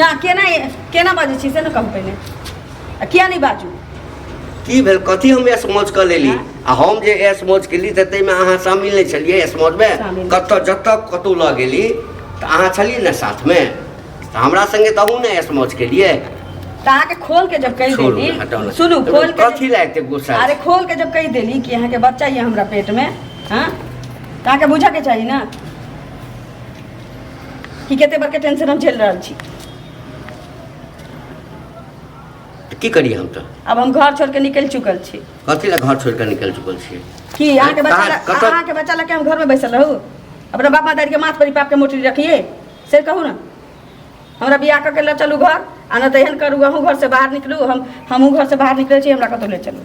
ना केना केना बाजै छी से ने कहू पहिने आ किया नहि बाजू की भेल कथी हम एस मौज कऽ लेली आ हम जे एस मौज केली तऽ ताहिमे अहाँ शामिल नहि छलियै एस मौजमे शामिल। कतऽ जतऽ कतहु लऽ गेली तऽ अहाँ छलियै ने साथमे तऽ हमरा संगे तऽ अहूँ ने एस मौज केलियै तऽ अहाँके खोल के जब कहि छोड़ू देली ने, हटाउ ने। सुनू तऽ खोल के कथी लए एते गुस्सा अरे खोल के जब कहि देली कि अहाँके बच्चा ये हमरा पेट में हाँ तऽ अहाँके बुझऽ के चाही ना कि कते बड़का टेंशन हम झेल रहल छी तऽ की करियै हम तऽ अब हम घर छोड़ के निकल चुकल छी कथी लए घर छोड़ि कऽ निकलि चुकल छियै कि अहाँ के बच्चा कहाँ- ला- कतऽ- अहाँ के बच्चा लगे हम घर में बैसल रहू अपना बाप मातारी के माथ पर ही पाप के मोटरी रखिए से कहू ना हमरा बियाह कऽ के ले चलू घर आ नहि तऽ एहन करू अहूँ घर से बाहर निकलू हम हमहूँ घर से बाहर निकलै छी हमरा कतहु ले चलू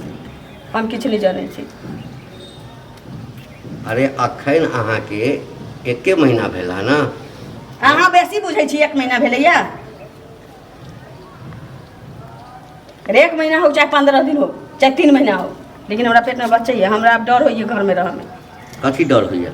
हम किछु नहि जानै छी अरे अखन अहाँके एके महीना भेल है ना अहाँ बेसी बुझै छी एक महीना भेलैया अरे एक महीना हो चाहे पंद्रह दिन हो चाहे तीन महीना हो लेकिन हमरा पेटमे बच्चे यऽ हमरा आब डर होइए घरमे रहऽमे कथी डर होइए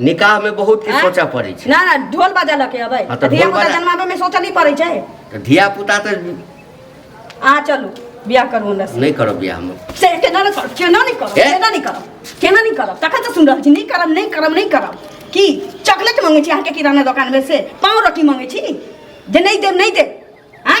निकाह में बहुत किछु आँय? सोचऽ पड़ै छै ना ना ढोल बजा लके अबै हाँ, तऽ धिया ढोल पुता बजा- जन्माबे में सोचऽ नहीं पड़े छै तऽ धिया पुता तऽ अहाँ चलू बियाह करू हमरा से नहि करब बियाह हम से केना नहीं करब केना नहीं करब ए? केना नहीं करब केना नहीं करब तखन से सुन रहल छी नहीं करब नहीं करब नहीं करब की चॉकलेट मांगे छी अहाँके किराना दोकान में से पाव रोटी मांगे छी जे नहीं देब नहीं देब आँय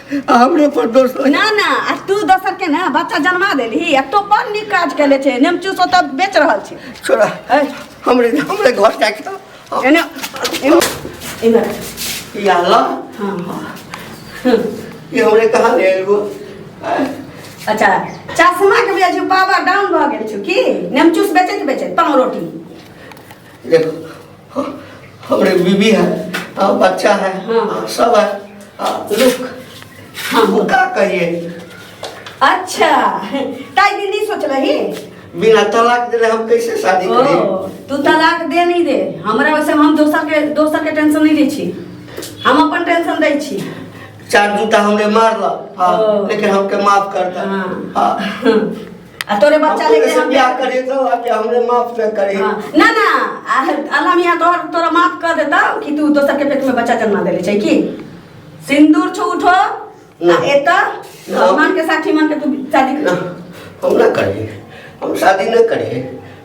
आ हमरे पर दोष लगे ना ना आ तू दोसर के ना बच्चा जन्मा देली आ तो बड़ नीक काज केले छे नेम चूस ओतऽ बेच रहल छी छोड़ा ए, हमरे हमरे घर जाके तो हम- एने एने एने ई आला हाँ। ई हमरे कहाँ ले आइल गो आय, अच्छा चश्मा के बेचू बाबा डाउन भऽ गेल छौ की नेम चूस बेचैत बेचैत पाँव रोटी देखो हमरे बीबी है आ, बच्चा है हाँ। आ, सब है आ, रुक हाँ हम का कहिए अच्छा ताई दिन नहीं सोच रही बिना तलाक देले हम कैसे शादी ओ करी तू तलाक दे नहीं दे हमरा वैसे हम दोसर के दोसर के टेंशन नहीं दै छी हम अपन टेंशन दै छी चार जूता हमरे मारला हाँ, ओ। लेकिन हमके माफ करता हाँ। हाँ आ तोरे बच्चा हम लेके तोरे से हम ब्याह करिए तो अब क्या हमरे माफ न करे हाँ, ना ना आ- अल्लाह मियाँ तोहर तोरा माफ कर देता कि तू दोसर के पेट में बच्चा जन्मा देले छै की सिंदूर छो उठो आ ना। एता ना। भगवान के साक्षी मान के तू शादी कर ना हम ना करे हम शादी न करे